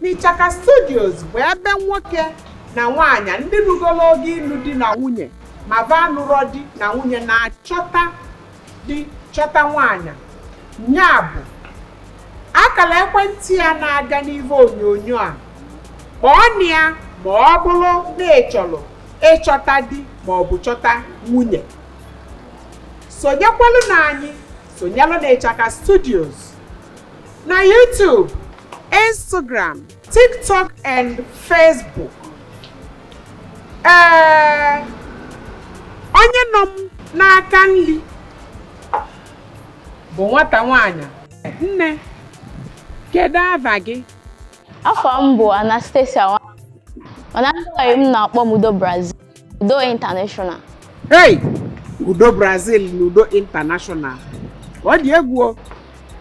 N'Ichaka Studios bụ ebe nwoke na nwaanyị ndị rugolo oge ịlụ di na nwunye ma va anụrọ di na nwunye na-achọta di chọta nwaanyị nya bụ akala ekwentị ya na-aga n'ihe onyonyo a kpọọnụ ya ma ọ bụrụ na ị chọrọ ịchọta di ma ọ bụ chọta nwunye sonyekwalụ na anyị sonyelụ na Ichaka Studios na YouTube, Instagram, TikTok and Facebook. Ee, eh, onye nọ m n'aka nri bụ nwata nwanyị. Nne, kedu ava gị? Afa m bụ Anastasia mana ndị m na-akpọ m Udo Brazil. Udo International. Hey! Udo Brazil na Udo International. Ọ dị egwu o.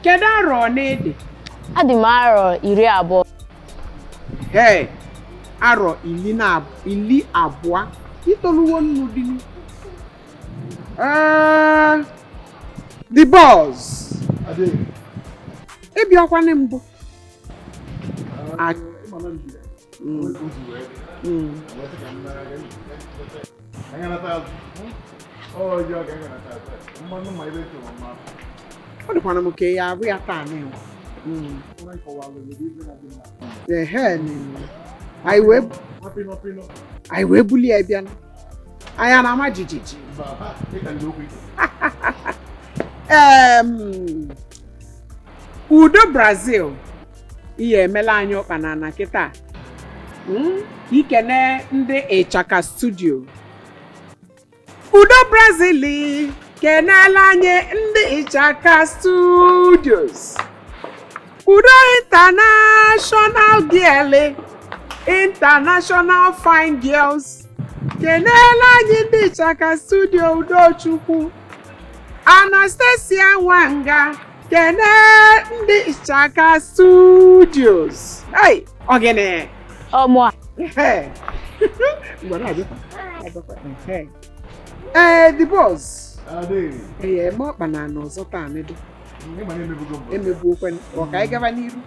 Kedu arọ one ị dị? Adị m arọ iri abụọ. Hey! Arọ ili abụa. I toluwo ịnụ di n'ihu. Ah, the boss. Ị bịakwana mbụ. ọ dịkwana m ka ya abụ ya taa na anyị wee bulie ya bịa anya na-ama jijiji ee Udo Brazil ihe emela anyị ụkpa na ana kịta Mm, i kene ndị Ichaka studio udo brazil kenela anyị ndị Ichaka studios udo international girl international fine girls kenela anyị ndị Ichaka studio udochukwu anastasia nwanga kene ndị Ichaka Studios ai ọgịnị ọmụ a ee the boss ee ma ọkpa na anọ ọzọ taa nedo emebuokwe ọ ka anyị gaba n'iru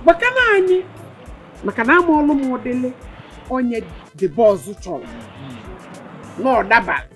maka na anyị maka na amaalụ m ụdịlị onye the boss chọrọ na ọ dabara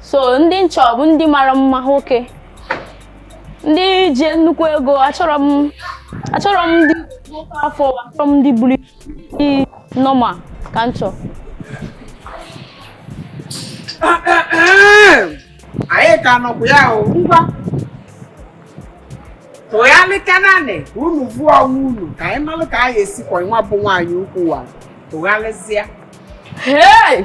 so ndị m chọ bụ ndị mara mma nwoke ndị ji nnukwu ego achọrọ m achọrọ m ndị nwere afọ achọrọ m ndị buru ndị normal ka m chọọ anyị ka nọkwa ya o ngwa tụgharịka nanị ka unu vụọ onwe unu ka anyị malụ ka anyị esi kwọ nwa bụ nwaanyị ukwu wa tụgharịzịa Hey!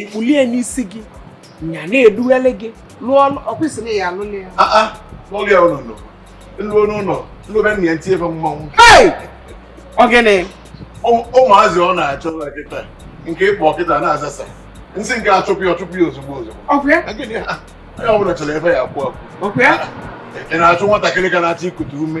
ikpulie n'isi gị nya na-edughele gị lụọ ọkwụsịrị ya alụla ya ah, ah. n'ụlọ ya ụlọ nọ m luo n'ụlọ m lụbe nna ya m tinye ebe mmanwụ ọ gịnị ụmụazị ọ na-achọ kịta nke ịkpọ kịta na-azasa nsị nke achụpụ ya ọchụpụ ya ozugbo ozugbo onye ọ bụla chọrọ ebe ya akwụ akwụ ị na-achụ nwatakịrị ka na-achọ ikute ume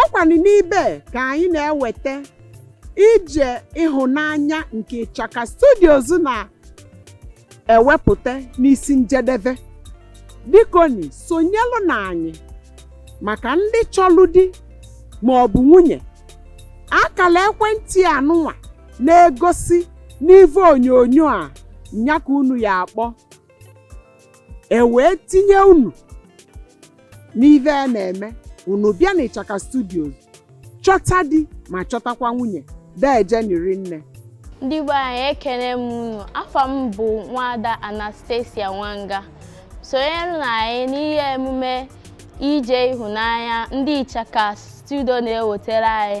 ọ kwanụ n'ibe ka anyị na-eweta ije ịhụnanya nke ịchaka studios na-ewepụta n'isi njedebe bikoni sonyelụ na anyị maka ndị chọlụ di ma ọ bụ nwunye akala ekwentị anụnwa na-egosi n'ive onyonyo a nya ka unu ya-akpọ e wee tinye unu n'ive a na-eme unu bịa n'ịchaka studios chọta di ma chọtakwa nwunye deejeni rinne ndị be anyị ekene m unu afa m bụ nwada anastasia nwanga sonyere na anyị n'ihe emume ije ịhụnanya ndị ịchaka studio na-ewetara anyị